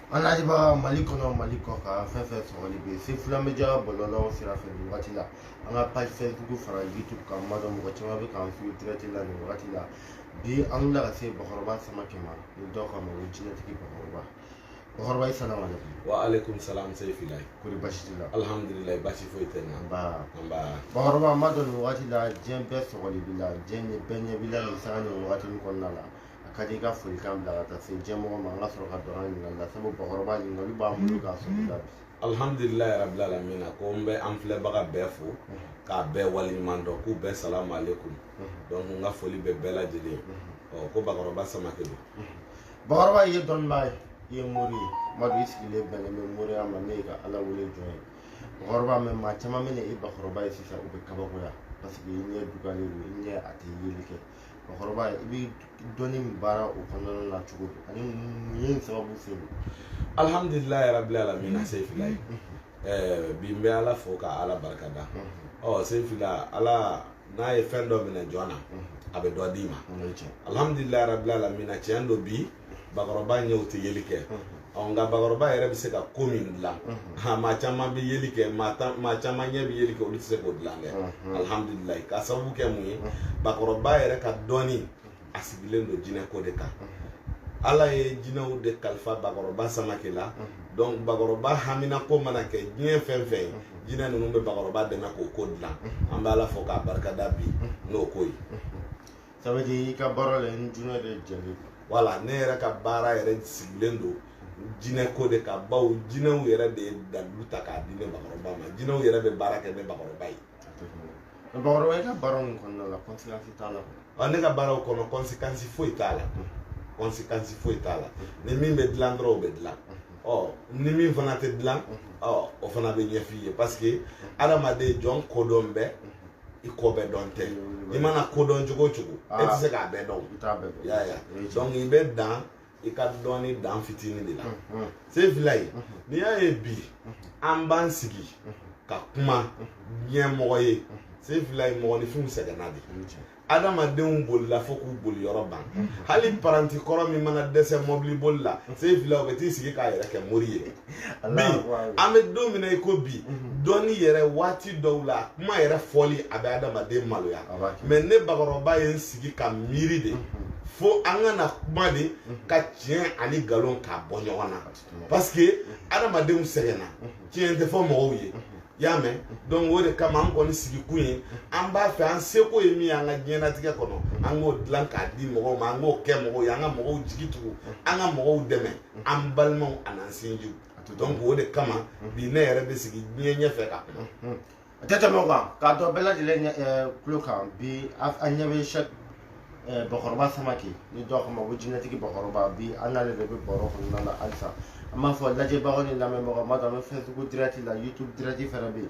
an lajɛbaga mali kɔnɔ mali kɔkan fɛn fɛn sɔgɔlen bɛ sefila media bɔlɔlɔw sira fɛ nin wagati la an ka page facebook fara youtube kan n b'a dɔn mɔgɔ caman bɛ k'an suivi direct la nin wagati la bi an wulila ka se bakɔrɔba samakɛ ma ni dɔw k'a ma ko jinɛtigi bakɔrɔba bakɔrɔba i salamu aleykum wa aleykum salam sefilayi kori basi t'i la alhamdulilayi basi foyi tɛ na nba nba bakɔrɔba n b'a dɔn nin wagati la diɲɛ bɛɛ sɔgɔlen b'i la diɲɛ bɛɛ ɲɛ b'i la nin sanga nin wagati nin kɔnɔna la a ka di i ka folikan bila ka taa se diɲɛ mɔgɔ ma an ka sɔrɔ ka don an ka ɲininkali la sabu bakɔrɔba ɲininkali b'an bolo k'a sɔrɔ i la bi alhamdulilayi rabil alamina ko n bɛ an filɛbaga bɛɛ fo k'a bɛɛ waleɲuman dɔn k'u bɛɛ salamu aleykum donc n ka foli bɛ bɛɛ lajɛlen ye ɔ ko bakɔrɔba samake don bakɔrɔba ye dɔnnibaa ye i ye mori ye madu i sigilen bɛnnen bɛ moriya ma ne ye ka ala wele jɔn ye bakɔrɔba mais maa caman mana i bakɔrɔba ye sisan u bɛ kabakoya parce que i ɲɛ dugalen don i ɲɛ a tɛ yeli kɛ bakɔrɔba i bɛ dɔnni min baara o kɔnɔna na cogo di ani mun ye sababu ye alihamdulilayi rabil alamina sefilayi bi n bɛ ala fo ka ala barika da ɔ sefila ala n'a ye fɛn dɔ minɛ jɔn na a bɛ dɔ d'i ma alihamdulilayi rabil alamina tiɲɛ don bi bakɔrɔba ɲɛw tɛ yeli kɛ ɔ nka bakɔrɔba yɛrɛ bɛ se ka ko min dilan maa caman bɛ yeli kɛ maa caman ɲɛ bɛ yeli kɛ olu tɛ se k'o dilan dɛ alihamudulilayi k'a sababu kɛ mun ye bakɔrɔba yɛrɛ ka dɔnni a sigilen don jinɛ ko de kan ala ye jinɛw de kalifa bakɔrɔba samake la donc bakɔrɔba hamina ko mana kɛ diɲɛ fɛn fɛn ye jinɛ ninnu bɛ bakɔrɔba dɛmɛ k'o ko dilan an bɛ ala fo k'a barika da bi n'o ko ye Ça veut dire i ka baara la i ni jinɛ de jɛlen don. Voilà ne yɛrɛ ka baara yɛrɛ sigilen don jinɛ ko de kan bawo jinɛw yɛrɛ de ye dalilu ta k'a di ne bakɔrɔba ma jinɛw yɛrɛ bɛ baara kɛ ne bakɔrɔba ye. Bakɔrɔba i ka baara ninnu kɔnɔna la conséquence t'a la. Ɔ ne ka baaraw kɔnɔ conséquence foyi t'a la. Conséquence foyi t'a la. Ni min bɛ dilan dɔrɔn o bɛ dilan. Ɔ ni min fana tɛ dilan ɔ o fana bɛ ɲɛf'i ye parce que adamaden jɔn kodɔn bɛ i ko bɛɛ dɔn tɛ i mana ko dɔn cogo o cogo e tɛ se k'a bɛɛ dɔn i y'a ye donc i bɛ dan i ka dɔnni dan fitinin de la sefilayi n'i y'a ye bi an b'an sigi ka kuma diɲɛ mɔgɔ ye sefilayi mɔgɔninfinw sɛgɛnna de adamadenw bolila fo k'u boli yɔrɔ ban hali paranti kɔrɔ min mana dɛsɛ mɔbili boli la sefila o bɛ t'i sigi k'a yɛrɛ kɛ mori ye bi an bɛ don min na i ko bi mhm. dɔnni yɛrɛ waati dɔw la kuma yɛrɛ fɔli a bɛ adamaden maloya mais ne bakɔrɔba ye n sigi ka miiri de mhm. fo an ka na kuma de mhm. ka tiɲɛ ani nkalon k'a bɔ ɲɔgɔn na parce que adamadenw sɛgɛnna tiɲɛ tɛ fɔ mɔgɔw ye y'a mɛn donc o de kama an kɔni sigikun ye an b'a fɛ an seko ye min ye an ka diɲɛnatigɛ kɔnɔ an k'o dilan k'a di mɔgɔw ma an k'o kɛ mɔgɔw ye an ka mɔgɔw jigi tugu an ka mɔgɔw dɛmɛ an balimaw an'an sinjiw donc o de kama mhm. bi ne yɛrɛ bɛ sigi diɲɛ ɲɛfɛ ka kuma mhm. a tɛ tɛmɛ o kan k'a d'aw bɛɛ lajɛlen eh, tulo kan bi an ɲɛ bɛ cheick bakɔrɔba samake ni dɔw k'a ma ko jinɛtigi bakɔrɔba bi an n'ale de bɛ baro kɔnɔna na halisa an b'a fɔ lajɛbagaw ni lamɛnbagaw ma donc an bɛ facebook direct la youtube direct fana bɛ yen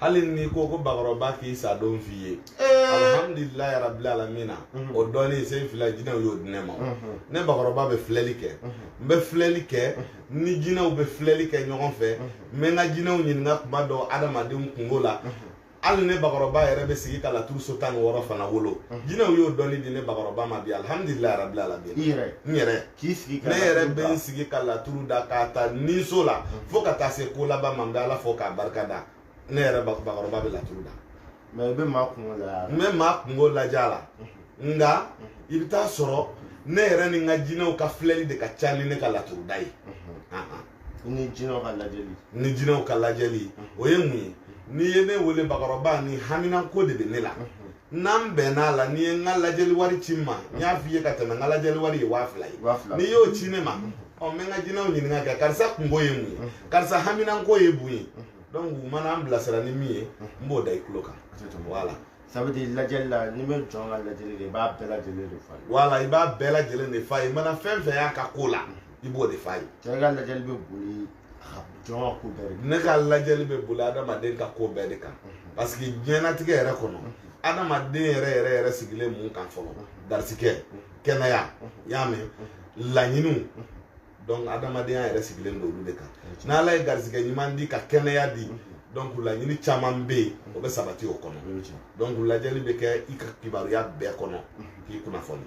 hali n'i ko ko bakɔrɔba k'i sa don f'i ye alhamdulilayi rabili alamina o dɔɔnin seyifila jinɛw y'o di ne ma ne bakɔrɔba bɛ filɛli kɛ n bɛ filɛli kɛ ni jinɛw bɛ filɛli kɛ ɲɔgɔn fɛ n bɛ n ka jinɛw ɲininka kuma dɔ adamadenw kungo la hali ne bakɔrɔba yɛrɛ bɛ sigi ka laturu so tan ni wɔɔrɔ fana wolo jinɛw y'o dɔɔnin di ne bakɔrɔba ma bi alhamdulilayi rabili alamina n yɛrɛ k'i sigi ka ne yɛrɛ bɛ n sigi ka laturu da k'a ta ninso la mm. fo ka taa se ko laban ma n bɛ ala fo k'a barika da ne yɛrɛ bakɔrɔba bɛ laturu da mais i bɛ maa kungo lajɛ a la n bɛ maa kungo lajɛ a la mm-hmm. nka mm-hmm. i bɛ taa sɔrɔ ne yɛrɛ ni n ka jinɛw ka filɛli de ka ca ni ne ka laturu da ye mm-hmm. ni jinɛw ka lajɛli ni jinɛw ka lajɛli o ye mun ye n'i ye ne wele bakɔrɔba ni haminanko de bɛ ne la n'an bɛnn'a la n'i ye n ka lajɛli wari ci n ma n y'a f'i ye ka tɛmɛ n ka lajɛli wari ye waa fila ye n'i y'o ci ne ma ɔ n bɛ n ka jinɛw ɲininka kɛ karisa kungo ye mun ye karisa haminanko ye mun ye donc u mana an bilasira ni min ye n b'o da i tulo kan voilà ça veut dire lajɛli la n'i bɛ jɔn ka lajɛli kɛ i b'a bɛɛ lajɛlen de f'a ye voilà i b'a bɛɛ lajɛlen de f'a ye i mana fɛn fɛn y'a ka ko la i b'o de f'a ye cɛ i ka lajɛli bɛ boli jɔn ko bɛɛ de ne ka lajɛli bɛ boli adamaden ka ko bɛɛ de kan mhm. parce que diɲɛlatigɛ yɛrɛ kɔnɔ mhm. adamaden yɛrɛ yɛrɛ yɛrɛ sigilen mun kan fɔlɔ mhm. garisigɛ kɛnɛya y'a mɛn laɲiniw donc adamadenya yɛrɛ sigilen don olu de kan n'ala ye garisigɛ ɲuman di ka kɛnɛya di donc laɲini caman bɛ yen o bɛ sabati o kɔnɔ donc lajɛli bɛ kɛ i ka kibaruya bɛɛ kɔnɔ k'i kunnafoni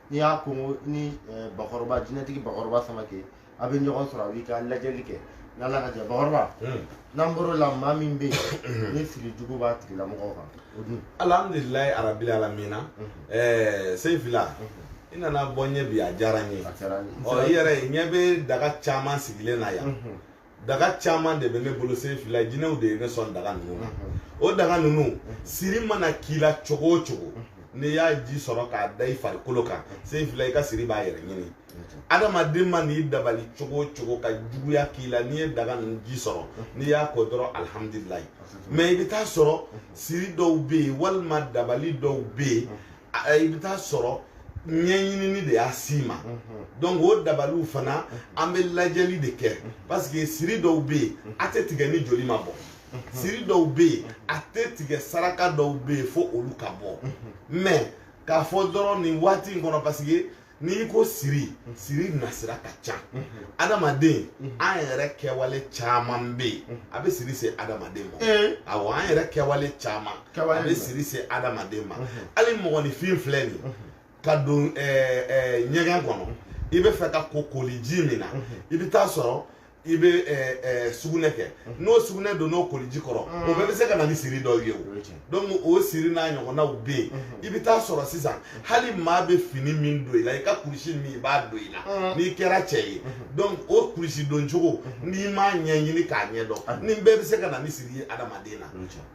n'i y'a ko ni eh, bakɔrɔba jinɛtigi bakɔrɔba samake a bɛ ɲɔgɔn sɔrɔ a b'i ka lajɛli kɛ n'ala ka jɛ bakɔrɔba hmm. n'an bɔr'o la maa min bɛ yen ni siri jugu b'a tigilamɔgɔ kan o dun alhamdulilayi arabili alamina hmm. eh, seyifila hmm. i nana bɔ n ye bi a diyara n ye ɔ i yɛrɛ ɲɛ bɛ daga caman sigilen na yan daga caman de bɛ ne bolo seyifila jinɛw de ye ne sɔn daga ninnu na o daga ninnu siri mana k'i la cogo o cogo n'i y'a ji sɔrɔ k'a da i farikolo kan seyifila i ka siri b'a yɛrɛ ɲini adamaden ma n'i dabali cogo o cogo ka juguya k'i la n'i ye daga ninnu ji sɔrɔ n'i y'a ko dɔrɔn alihamudulilayi mais i bɛ taa sɔrɔ siri dɔw bɛ yen walima dabali dɔw bɛ yen i bɛ taa sɔrɔ ɲɛɲinini de y'a s'i ma donc o dabaliw fana an bɛ lajɛli de kɛ parce que siri dɔw bɛ yen a tɛ tigɛ ni joli ma bɔ siri dɔw bɛ yen a tɛ tigɛ saraka dɔw bɛ yen fo olu ka bɔ mais k'a fɔ dɔrɔn nin waati in kɔnɔ parce que n'i ko siri siri nasira ka ca adamaden an yɛrɛ kɛwale caman bɛ yen a bɛ siri se adamaden ma awɔ an yɛrɛ kɛwale caman a bɛ siri se adamaden ma hali mɔgɔninfin filɛ nin ye ka don ɲɛgɛn kɔnɔ i bɛ fɛ ka ko koliji min na i bɛ taa sɔrɔ i bɛ eh, eh, sugunɛ kɛ mhm. n'o sugunɛ don n'o koliji kɔrɔ o bɛɛ bɛ se ka na ni siri dɔw ye o donc o siri n'a ɲɔgɔnnaw bɛ yen mhm. i bɛ taa sɔrɔ sisan mhm. hali maa bɛ fini min don i la i ka kurusi min i b'a don i la n'i kɛra cɛ ye donc o kurusi don cogo n'i m'a ɲɛɲini k'a ɲɛ dɔn nin bɛɛ bɛ se ka na ni siri ye adamaden na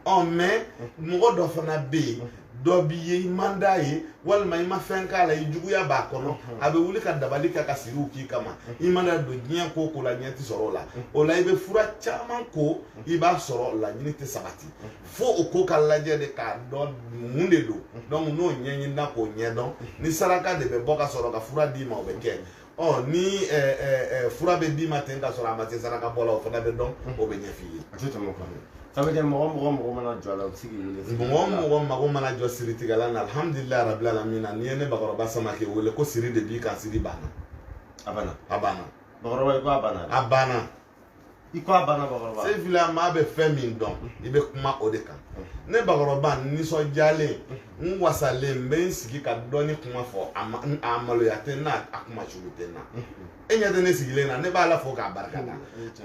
ɔ mais mɔgɔ dɔ fana bɛ yen dɔ b'i ye i man d'a ye walima i ma fɛn k'a la i juguya b'a kɔnɔ mhm. a bɛ wuli ka dabali kɛ ka siriw k'i kama mhm. i mana don diɲɛ ko o ko la ɲɛ tɛ sɔrɔ o la mhm. o la i bɛ fura caman ko i b'a sɔrɔ laɲini tɛ sabati fo o ko ka lajɛ de k'a dɔn mun de don donc n'o ɲɛɲinina k'o ɲɛdɔn ni saraka de bɛ bɔ ka sɔrɔ ka fura d'i ma o bɛ kɛ ɔ ni ɛ ɛ ɛ fura bɛ d'i ma ten ka sɔrɔ a ma se saraka bɔ la o fana bɛ dɔn o bɛ ɲɛf'i ye. a tɛ tɛmɛ o kan dɛ. ça veut dire mɔgɔ o mɔgɔ mago mana jɔ a la o bɛ se k'i wele. mɔgɔ o mɔgɔ mago mana jɔ siritigɛla la alihamudulilayi rabil alamina n'i ye ne bakɔrɔba samake wele ko siri de b'i kan siri banna. a banna. a banna. bakɔrɔba i ko a banna. a banna. i ko a banna bakɔrɔba seyfila maa bɛ fɛn min dɔn i bɛ kuma o de kan ne bakɔrɔba n nisɔndiyalen n wasalen n bɛ n sigi ka dɔnni kuma fɔ a ma a maloya tɛ n na a kunmasuuli tɛ n na e ɲɛ tɛ ne sigilen na ne b'ala fo k'a barika da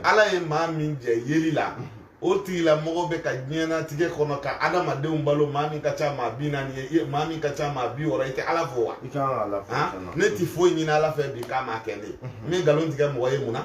ala ye maa min jɛ yeli la o tigilamɔgɔ bɛ ka diɲɛnatigɛ kɔnɔ ka adamadenw balo maa min ka ca maa bi naani ye maa min ka ca maa bi wɔɔrɔ i tɛ ala fo wa ne tɛ foyi ɲini ala fɛ bi k'a ma kɛ ne ye n bɛ nkalon tigɛ mɔgɔ ye mun na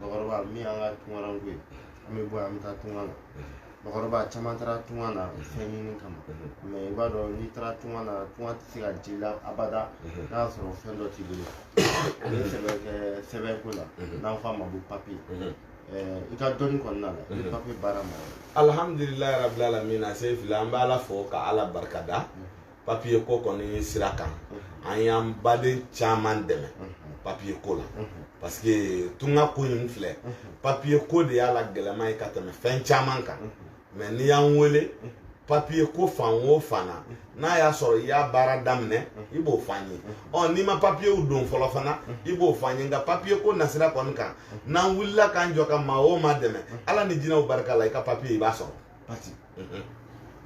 bakɔrɔba min y'an ka tunkaranko ye an bɛ bɔ yan an bɛ taa tunga la bakɔrɔba caman taara tunga na fɛn ɲini kama mais i b'a dɔn n'i taara tunga na tunga tɛ se ka diya i la abada n'a y'a sɔrɔ fɛn dɔ t'i bolo o ye sɛbɛn ye sɛbɛn ko la n'an f'a ma ko papiye i ka dɔnni kɔnɔna la i bɛ papiye baara ma alihamdulilayi rabil alamina seyfila an bɛ ala fo ka ala barikada papiye ko kɔni sira kan an y'an baden caman dɛmɛ papiye ko la parce que tunga ko in filɛ papiye ko de y'a la gɛlɛma ye ka tɛmɛ fɛn caman kan mais n'i y'an wele papiye ko fan o fan na n'a y'a sɔrɔ i y'a baara daminɛ i b'o f'an ye ɔ n'i ma papiyew don fɔlɔ fana i b'o f'an ye nka papiye ko nasira kɔni kan n'an wulila k'an jɔ ka maa o maa dɛmɛ ala ni jinɛw barika la i ka papiye i b'a sɔrɔ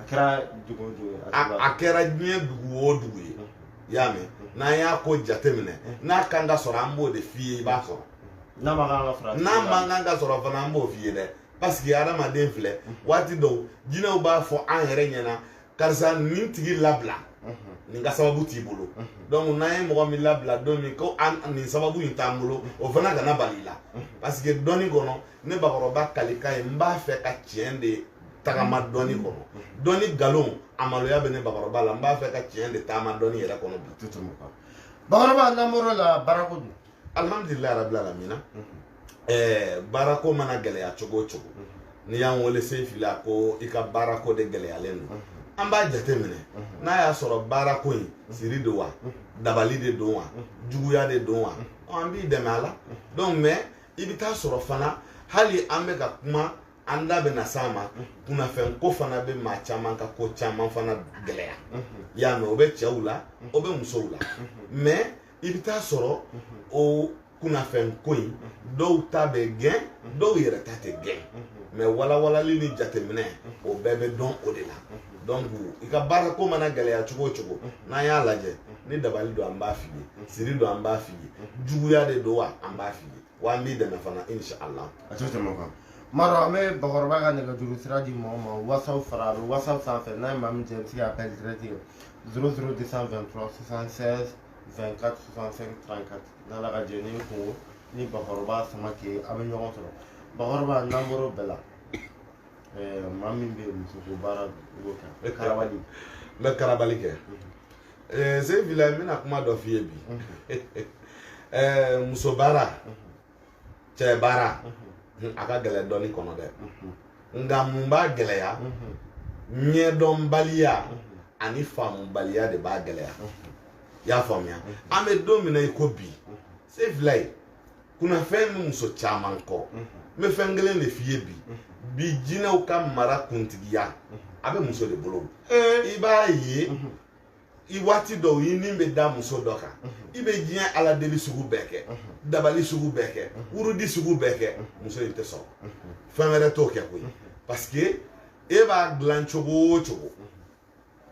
a kɛra dugu o dugu ye a kɛra diɲɛ dugu o dugu ye i y'a mɛn n'an y'a ko jateminɛ n'a kan ka sɔrɔ an b'o de f'i ye i b'a sɔrɔ n'a man kan ka sɔrɔ n'a man kan ka sɔrɔ fana an b'o f'i ye dɛ parce que adamaden filɛ waati dɔw jinɛw b'a fɔ an yɛrɛ ɲɛna karisa nin tigi labila nin ka sababu t'i bolo donc n'an ye mɔgɔ min labila don min ko nin sababu in t'an bolo o fana kana bali i la parce que dɔnni kɔnɔ ne bakɔrɔba kalikan ye n b'a fɛ ka tiɲɛ de tagama dɔnni kɔnɔ dɔnni nkalon a maloya bɛ ne bakɔrɔba la n b'a fɛ ka tiɲɛ de taama dɔnni yɛrɛ kɔnɔ bi bakɔrɔba n'an bɔr'o la baarako dun alihamdulilayi rabil alamina ɛɛ baarako mana gɛlɛya cogo o cogo n'i y'an wele Seyifila ko i ka baarako de gɛlɛyalen don an b'a jateminɛ n'a y'a sɔrɔ baarako in siri don wa dabali de don wa juguya de don wa an b'i dɛmɛ a la donc mais i bɛ taa sɔrɔ fana hali an bɛ ka kuma an da bɛna s'a ma kunnafɛn ko fana bɛ maa caman ka ko caman fana gɛlɛya i y'a mɛn o bɛ cɛw la o bɛ musow la mais i bɛ taa sɔrɔ o kunnafɛn ko in dɔw ta bɛ gɛn dɔw yɛrɛ ta tɛ gɛn mais walawalali ni jateminɛ o bɛɛ bɛ dɔn o de la donc i ka baara ko mana gɛlɛya cogo o cogo n'an y'a lajɛ ni dabali don an b'a f'i ye siri don an b'a f'i ye juguya de don wa an b'a f'i ye wa an b'i dɛmɛ fana inshallah a tɛ tɛmɛ o kan M'a dɔn an bɛ bakɔrɔba ka nɛgɛjuru sira di mɔgɔ ma whatsapp fara a bɛ whatsapp sanfɛ n'a ye maa min jɛ i bɛ se ka appel direct kɛ 00 223 76 24 65 34 n'ala ka jɛn ni kunko ni bakɔrɔba Samakɛ a bɛ ɲɔgɔn sɔrɔ bakɔrɔba n'an bɔr'o bɛɛ la Eh, maa min bɛ muso ko baara b'o kɛ n bɛ karabali n bɛ karabali kɛ Seyifilayi n bɛna kuma dɔ f'i ye bi eh, muso baara cɛ baara a ka gɛlɛn dɔnni kɔnɔ dɛ nka mun b'a gɛlɛya ɲɛdɔnbaliya ani faamubaliya de b'a gɛlɛya i y'a faamuya an bɛ don min na i ko bi Seyifilayi. kunnafɛn bɛ muso caman kɔ n bɛ fɛn kelen de f'i ye bi bi jinɛw ka mara kuntigiya a bɛ muso de bolo i b'a ye i waati dɔw i ni bɛ da muso dɔ kan i bɛ diɲɛ ala deli sugu bɛɛ kɛ dabali sugu bɛɛ kɛ wurudi sugu bɛɛ kɛ muso in tɛ sɔn fɛn wɛrɛ t'o kɛ koyi parce que e b'a dilan cogo o cogo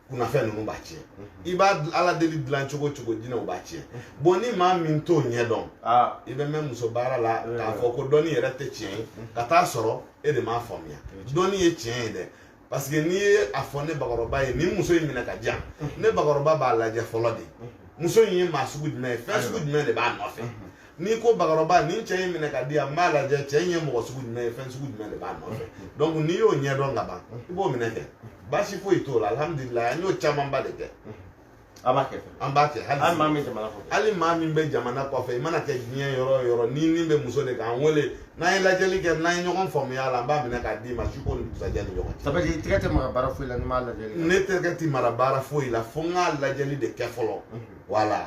kunnafɛn ninnu b'a tiɲɛ i b'a dil- ala deli dilan cogo o cogo jinɛw b'a tiɲɛ bon ni maa min t'o ɲɛ dɔn Ah, i bɛ mɛn muso baara la k'a fɔ ko dɔnni yɛrɛ tɛ tiɲɛ ye ka taa sɔrɔ e de m'a faamuya dɔnni ye tiɲɛ ye dɛ parce que n'i ye a fɔ ne bakɔrɔba ye nin muso in minɛ ka di yan ne bakɔrɔba b'a lajɛ fɔlɔ de muso in ye maa sugu jumɛn ye fɛn sugu jumɛn de b'a nɔfɛ n'i ko bakɔrɔba nin cɛ in minɛ ka di yan n b'a lajɛ cɛ in ye mɔgɔ sugu jumɛn ye fɛn sugu jumɛn de b'a nɔfɛ donc n'i y'o ɲɛdɔn ka ban i b'o minɛ kɛ baasi foyi t'o la alhamdulilayi an y'o camanba de kɛ a b'a kɛ an b'a kɛ hali maa min jamana kɔfɛ hali maa min bɛ jamana kɔfɛ i mana kɛ diɲɛ yɔrɔ o yɔrɔ n'i ni bɛ muso de kan wele n'an ye lajɛli kɛ n'an ye ɲɔgɔn faamuya la an b'a minɛ k'a d'i ma su ko ni dugusajɛ ni ɲɔgɔn cɛ. ça veut dire tɛgɛ tɛ maga baara foyi la ni n ma lajɛli kɛ. ne tɛgɛ tɛ maga baara foyi la fo n k'a lajɛli de kɛ fɔlɔ. wala.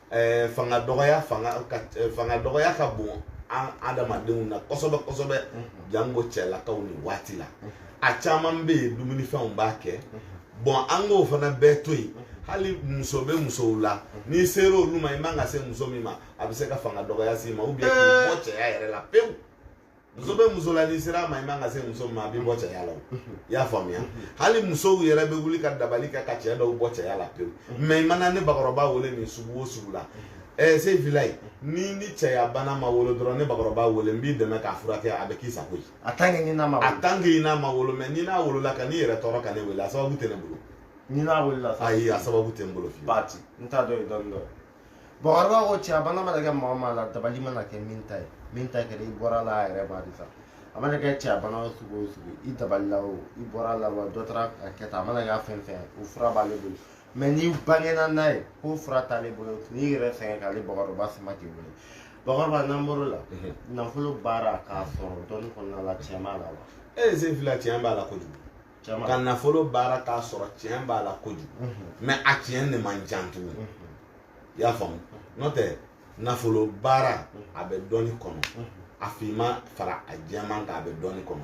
eh, fanga dɔgɔya fanga ka eh, fanga dɔgɔya ka bon an adamadenw na kosɛbɛ kosɛbɛ mhm. janko cɛlakaw nin waati la mhm. a caman bɛ yen dumunifɛnw b'a kɛ mhm. bon an k'o fana bɛɛ to yen hali muso bɛ musow la n'i sera olu ma i man ka se muso min ma a bɛ se ka fanga dɔgɔya s'i ma ou bien k'i bɔ cɛya yɛrɛ la pewu. muso bɛ muso la n'i sera a ma i man ka se muso min ma a b'i bɔ cɛya la i y'a faamuya hali musow yɛrɛ bɛ wuli ka dabali kɛ ka cɛ dɔw bɔ cɛya la pewu mais i mana ne bakɔrɔba wele nin sugu o sugu la ɛɛ Seyifilayi n'i ni cɛya bana ma wolo dɔrɔn ne bakɔrɔba wele n b'i dɛmɛ k'a furakɛ a bɛ k'i sago ye a tant que i n'a ma a tant que i n'a ma wolo mais n'i n'a wolola kan'i yɛrɛ tɔɔrɔ ka ne wele a sababu tɛ ne bolo n'i n'a wolola ayi a sababu tɛ n bolo fewu baati n t'a dɔn ye dɔɔni dɔɔni bakɔrɔba ko cɛya bana mana kɛ maa maa la dabali mana kɛ min ta ye min ta kɛra i bɔra la a yɛrɛ b'a de sa a mana kɛ cɛya bana o sugu o sugu i dabalila o i bɔra la wa dɔ taara a kɛ tan a mana kɛ fɛn o fɛn o fura b'ale bolo mais n'i bangena n'a ye k'o fura t'ale bolo n'i yɛrɛ sɛgɛn k'ale bakɔrɔba Samake wele bakɔrɔba n'an bɔr'o la nafolo baara k'a sɔrɔ dɔɔni kɔnɔna la tiɲɛ b'a la wa ee Seyifila tiɲɛ b'a la kojugu ka nafolo baara k'a sɔrɔ tiɲɛ b'a la kojugu mais a tiɲɛ de man jan tuguni i y'a faamu n'o tɛ nafolo baara a bɛ dɔɔni kɔnɔ a finman fara a jɛman kan a bɛ dɔɔni kɔnɔ